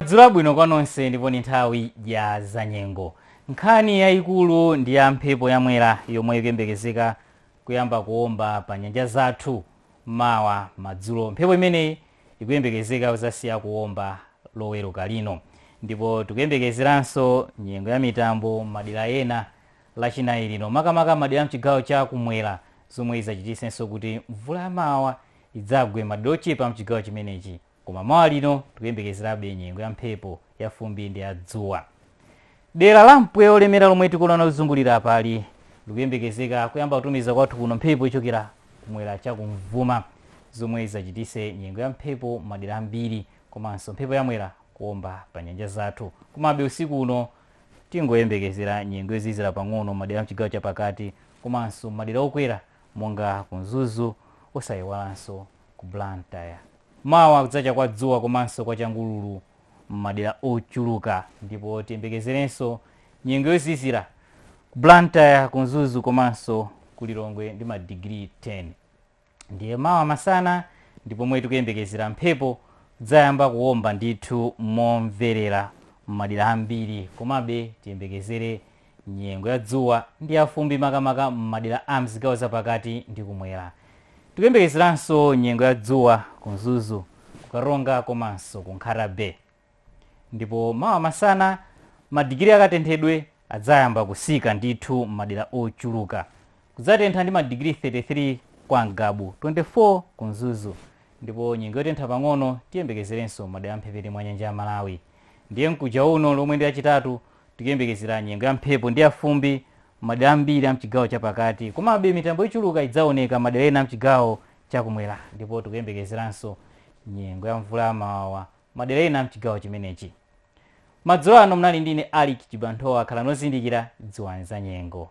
madzulo abwino kwa nonse ndipo ni nthawi ya zanyengo nkhani yayikulu ndi ya mphepo yamwera yomwe ikuyembekezeka kuyamba kuomba pa nyanja zathu mawa madzulo mphepo imeneyi ikuyembekezeka kuzasiya kuomba loweruka lino ndipo tikuyembekezeranso nyengo ya mitambo madera ena lachinayi lino makamaka m'madera a mchigawo cha kumwera zomwe idzachititsenso kuti mvula ya mawawa idzagwe m'madera ochepa a mchigawo chimenechi koma mawa lino tikuyembekezerabe nyengo ya mphepo ya fumbi ndi ya dzuwa. Dera la mpweya olemera lomwe tikuliona kuzungulira apali likuyembekezeka kuyamba kutumiza kwathu kuno mphepo yochokera kumwera cha kumvuma zomwe idzachititse nyengo ya mphepo m'madera ambiri komanso mphepo ya mwera kuomba pa nyanja zathu komabe usiku uno Tingoyembekezera nyengo yozizira pang'ono m'madera a mchigawo cha pakati komanso m'madera okwera monga ku Mzuzu osaiwalanso ku Blantyre. Mawa kudzacha kwa dzuwa komanso kwa changululu m'madera ochuluka ndipo tiyembekezerenso nyengo yozizira ku Blantyre, ku Mzuzu komanso ku Lilongwe ndi madigiri 10. ndiye mawa masana ndi pomwe tikuyembekezera mphepo kudzayamba kuwomba ndithu momverera m'madera ambiri komabe tiyembekezere nyengo ya dzuwa ndi yafumbi makamaka m'madera a mzigawo zapakati ndi kumwera tikuyembekezeranso nyengo ya dzuwa ku mzuzu kukaronga komanso ku nkhata bay ndipo mawa masana madigiri akatenthedwe adzayamba kusika ndithu m'madera ochuluka kudzatentha ndi madigiri 33 kwa mgabu 24 ku mzuzu ndipo nyengo yotentha pang'ono tiyembekezerenso madera amphepete mwa nyanja ya malawi ndiye mkuja uno lomwe ndi lachitatu tikuyembekezera nyengo ya mphepo ndi yafumbi madera ambiri amchigawo chapakati komabe mitambo yochuluka idzaoneka madera ena amchigawo chakumwera ndipo tikuyembekezeranso nyengo ya mvula yamawawa Madera ena amchigawo chimenechi. Madzulo ano mnali ndi ine Alick Chibanthowa khalani ozindikira dziwani za nyengo.